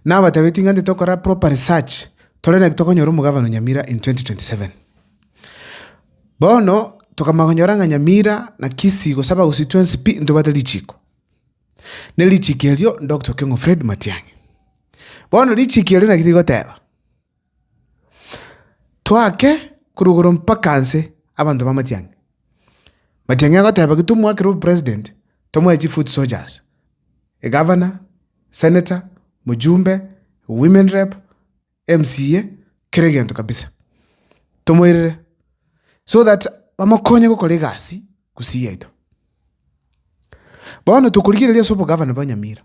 Nabatebitie ng'a nte tokora proper research, tore naki tokonyora omogabane o Nyamira in 2027. Bono tokamanya konyora ng'a Nyamira na Kisii gose abagusii twensi pi ntobwate richiko. Ne richiko erio Doctor Okiong'o Fred Matiang'i. Bono richiko erio naki rigoteba. Toake korwa igoro mpaka nse abanto ba matiang'i. Matiang'i agoteba ki tomwakera obopresident, tomoe chifoot soldiers, egavana, seneta, mojumbe, women rep, mca, kera egento kabisa, tomoirere so that bamokonye gokora egasi gusii yaito. Bono tokorigereria ase obogavana bwa Nyamira.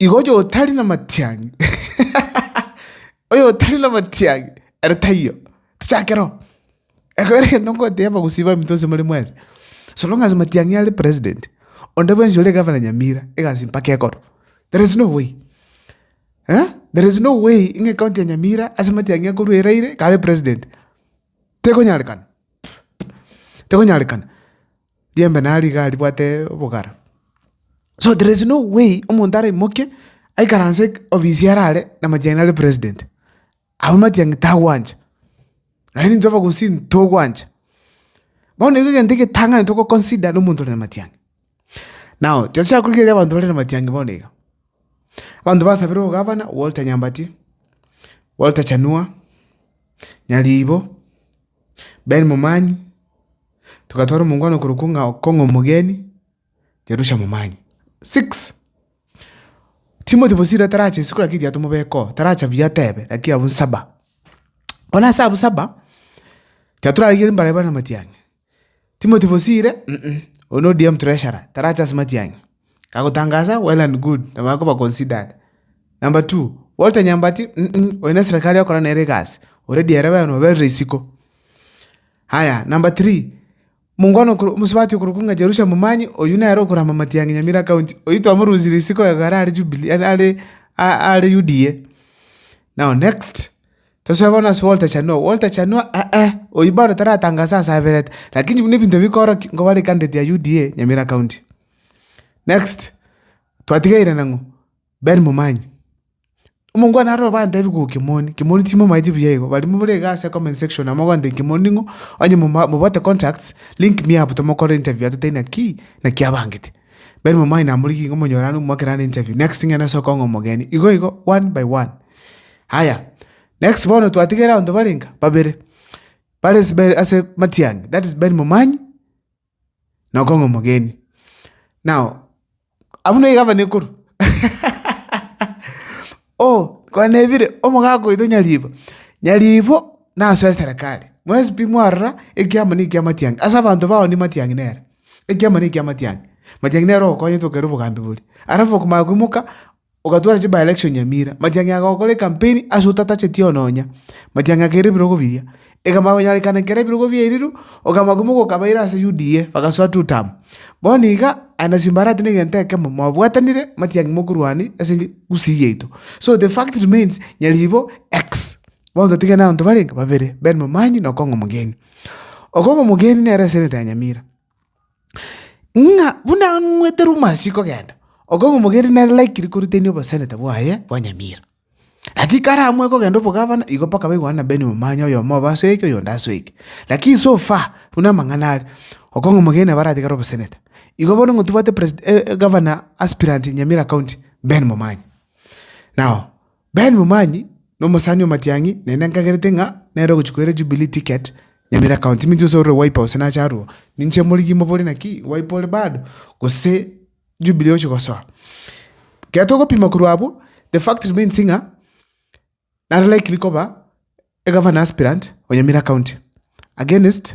Igo oyotari namatiang'i oyotari namatiang'i ere taiyo, tochake roo. Ekero egento ngoteba gosii baminto gose more mwensi, so long as matiang'i are president, onde bwensi ore gavana Nyamira egasi mpaka ekorwa. There is no way eh, there is no way ng'a ecounty ya Nyamira ase matiang'i akorwa eraire kabe president. Tekonyarekana, tekonyarekana. Riembe naro rigaa ribwate obogara. So there is no way omonto araimoke aikaranse ofisi are are na matiang'i nare president. Abwo matiang'i tagwancha, aye nintwe abagusii ntogwancha. Bono igo egento egetang'ani togo consider na omonto ore na matiang'i. Now tochaka korigereria abanto bare na matiang'i bono iga. Abanto basabire ogavana Walter Nyambati, Walter Chanua, Nyariibo, Ben Momanyi, Togatwara omongwana okorokwa ng'a okong'a omogeni Yerusha momanye. Six, Timothy bosira tarache isiko lakini tiga tomobekoo, taracha buya tebe lakini abwo nsaba. Bono ase abwo saba, tiga torarigerie mbare bare namatiang'a. Timothy bosire oyo no DM treasurer, tarache ase matiang'a. Agotangasa well and good, nabo akoba considered. Number two, Walter Nyambati oyo neserekari okora nere egasi, ore dearaba yaye nobere isiko. Aya, number three, mongwana okoro, omosubati okorokwa ng'a Jerusha Momanyi, oyio nere okorama amatiang'i Nyamira County, oyio twamorusia risiko iga are are Jubilee are are are UDA. Now next, tosoe bono ase Walter Chanua, Walter Chanua eeh, oyio bado taratangase ase aberete, lakini buna ebinto bikorokia, nigo bare candidate ya UDA Nyamira County. Next, twatigeire nang'o? Ben momanye. Omongwana aroro bantebi gogo Kimoni, Kimoni timomaeti buya igo, barimo bore iga ase comment section amo gwantebi Kimoni ning'o, onye moma mobote contacts, link me up tomokore interview atote inaki, naki abangete. Ben momanye namorigie igo monyorane omwake naende interview, next thing ere ase okong'a omogeni, igo igo one by one. Haya, next bono twatigere abanto bare inga, babere, bare ase be ase matiang'i, that is Ben momanye, nokong'a omogeni. Nao abwo ne egavana ekorwa oh kwanebire omogaka oito nyaribo, nyaribo naso eserekari, mwensi pi mwarora ekiama ne ekia matiang'i ase abanto bao ni matiang'i nere, ekiama ne ekia matiang'i, matiang'i nere ogokonyete okere obogambi boria. Alafu okomanya koimoka. Ogatwara chi by-election Nyamira, matiang'i agokora ekampeni ase otatacheti oo nonya, matiang'i akaira ebirogo biria. Ekamanya konyorekana ekero ebirogo biairirwe, okamanya ko mogoka abaira ase UDA, bagasoa two term. Bono iga, aye na Simbarati na egento ekemo, mwabwatanire, matiang'i mokorwania ase enche Gusii yaito. So the fact remains, Nyaribo X. Bono totigane abanto barenge, babere, Ben Momanyi na Okong'o Omogeni. Okong'o Omogeni nere eseneta ya Nyamira. ng'a buna ang'wete rumasi kogenda, okomomogenderia nare laikire korutania oboseneta bwaye bwa nyamira. Lakini kare amo ekogenda obogavana, igo mpaka baigwane na Ben Momanya, oyomo obe ase eke, oyonde ase eke. Lakini so far, buna amang'ana are, okong'omogenderia nabare atigare oboseneta. Igo bono ng'a tobwate preside egavana aspirant Nyamira County, Ben Momanya. Nao. Ben Momanyi nomosani omatiang'i, naende nkagerete ng'a nere ogochia koira Jubilee ticket Nyamira County. Minto inse ore Wiper gose nache aroro, ninche omorigi mobore naki Wiper ore bado gose Jubilee ogochia gosoa. Ekero togopima korwa abwo, the fact remains ng'a nare likely koba egavana aspirant o Nyamira County against.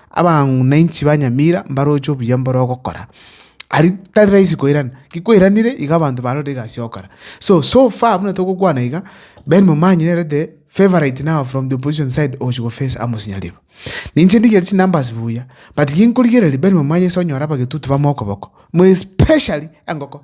Abamwanchi ba nyamira mbaroche obuya mbore ogokora, aria tari rahisi koirana, ki kwairanire iga abanto barorire egasi ogokora. So, so far buna togokwana iga, Ben Momanyi nere the favourite now from the opposition side ogochia go face Amos Nyaribo. Ninche ndigeire chinumbers buya, but ginkorigereria Ben Momanyi ase onyore abagetutu bamokoboko, mo especially engoko.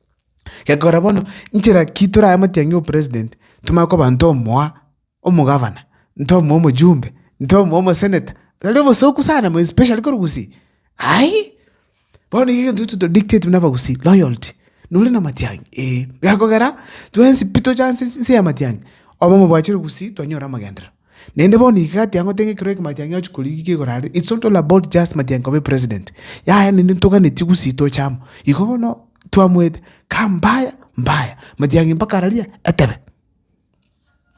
Gekogera bono, nchera ki torae motiang'i ng'a opresident ntomanye koba ntomoa omogavana, ntomoa omojumbe, ntomoa omosenator, tari obosoku sana more especially kore gusii, aii. Bono iga egento to dictate buna abagusii loyalty, nore na matiang'i ee. Gekogera twensi pi toche ase ense ya matiang'i, obe omobwachire gusii twanyore amagenderero. Naende bono iga gatiang'o tenge ekero ekemo atiang'e ochi korigia iga igoro aria. It's not all about just matiang'e koba epresident. Yaya naende ntogane chigusii toche amo. Igo bono twamoete kaa mbaya mbaya. Matiang'e mpaka araria etebe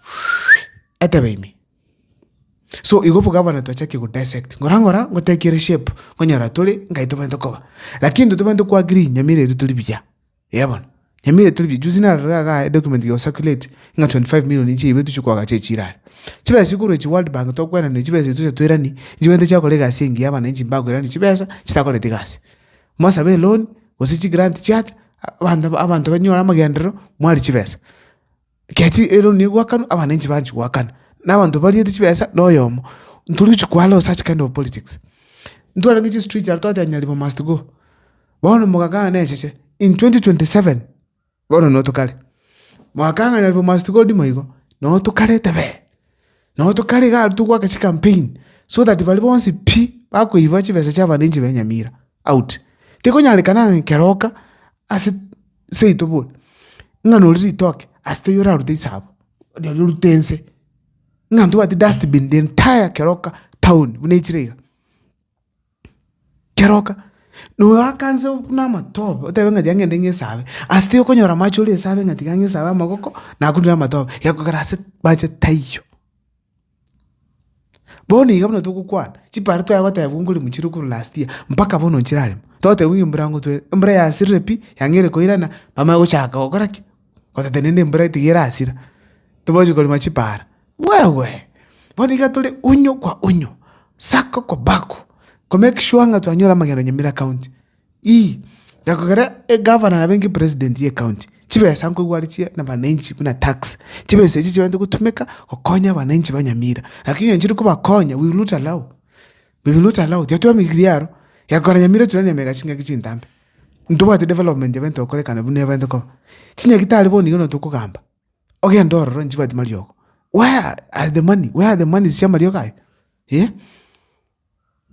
Whee! Etebe ime. So igo bo gavana twachaki go dissect. Ngora ngora ngotaki ere shape onyora tore nkai tobwenerete koba. Lakini intwe tobwenerete ko agree Nyamira eria tore buya. Eeh bono, nyamire tore rijuzi narorire gaa edocument geko circulate, ng'a 25 million inche yaibetwe chio koaga chia echiro aria. Chibesa chio korwa echi World Bank tokweranire chibesa echi tocha toiranie, nichigo egento chiakora egasi engiya abananchi mbakoirania chibesa chitakoreti gasi. Mosabe eloan, gose chigrant chiacha, abanto abanto banyore amagenderero, mwari chibesa. Gati ere o nigo gwakanwa, abananchi banchi goakana, na abanto bariete chibesa na oyomo. Ntori gochia koala o such kind of politics. Ntwarenge chi street aria twateba Nyaribo must go. Bono mogakana echeche in twenty twenty seven bono no tokare. Mwakana ng'a Nyaribo must go ndimo igo, no tokare tebee. No tokare iga aria togwaka chi campaign so that baria bonsi pi bakoiba chibesa chia abananchi ba Enyamira out. Tekonyarekana ng'a keroka ase. seito bono, ng'a nori ritoke, ase teiyo orarute chisaabo, rirorio orute inse, ng'a ntobwati dustbin the entire keroka town buna echire iga, keroka noakanse buna amatobe otebe ng'a tiga ng'ende ng'esabe, ase teiyo okonyora amache ore esabe ng'a tiga ng'esabe amagoko, nakunire amatobe, egekogera ase mache taiyo. Bono iga buna togokwana, chipara twaya gotebwa ngore mochire okorwa last year, mpaka bono nchirarema, togotebwa ng'a embura nigo twere, embura yasirire pi, yang'eire koirana, bamanye gochaka gokora ki? Goteta naende embura tiga erasira, tobache korema chipara, wewe! Bono iga tore unyo kwa unyo, sako kwa bako, ko make sure ng'a twanyora amagendo Nyamira county. Ii, na kegera egavana na benge president y'ecounty, chibesa nkoigwa are chia nabananchi buna tax, chibesa echio chibagete gotumeka gokonya abananchi ba Nyamira. Lakini onye chiri kobakonya we will not allow, we will not allow, tiatwamigirie aro, egekogera Nyamira turania na emegati chingaki chintambe, ntobwati development ebe ntokorekana buna ebagete koba, chinyagi tari bono iga nonya tokogamba, ogende ororo onye chibwati mariogo, where are the money, where are the monies chia amariogo aye? Eeh,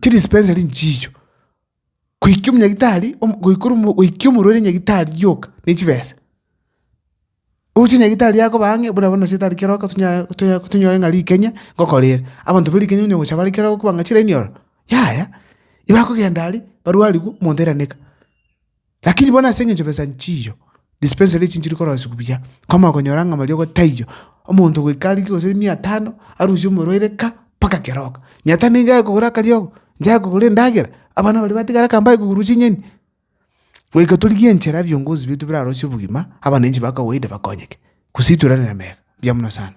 chidispensary nchicho, goikia omonyagitari goikora goikia omorwaire nyagitari rioka ne chibesa. Oroche nyagitari akoba ang'e buna bono nase tari kera oka tonyare tonya tonyore ng'a rikenya ngokora ere. Abanto ba rikenya onye gocha bare kera okoba ng'a chiraini ororo, yaya, igo akogenda aria, barwarigwe, omonto airaneka. Lakini bono ase engencho besa nchiyo, dispensary echi nchiri korosigwa buya, komokonyora ng'a mariogo taiyo, omonto goika arike gose mia tano, arusie omorwaire ka, mpaka keroka. Mia tano nigo yare kogora akariogo? Nchare kogora endagera? Abana baria batigare aka mbare kogurwa chinyeni? Goika torigie enchera biongozi bietu birarosie obogima, abananchi ba kawaida bakonyeke. Gose ituranere mega. Mbuya mono sana.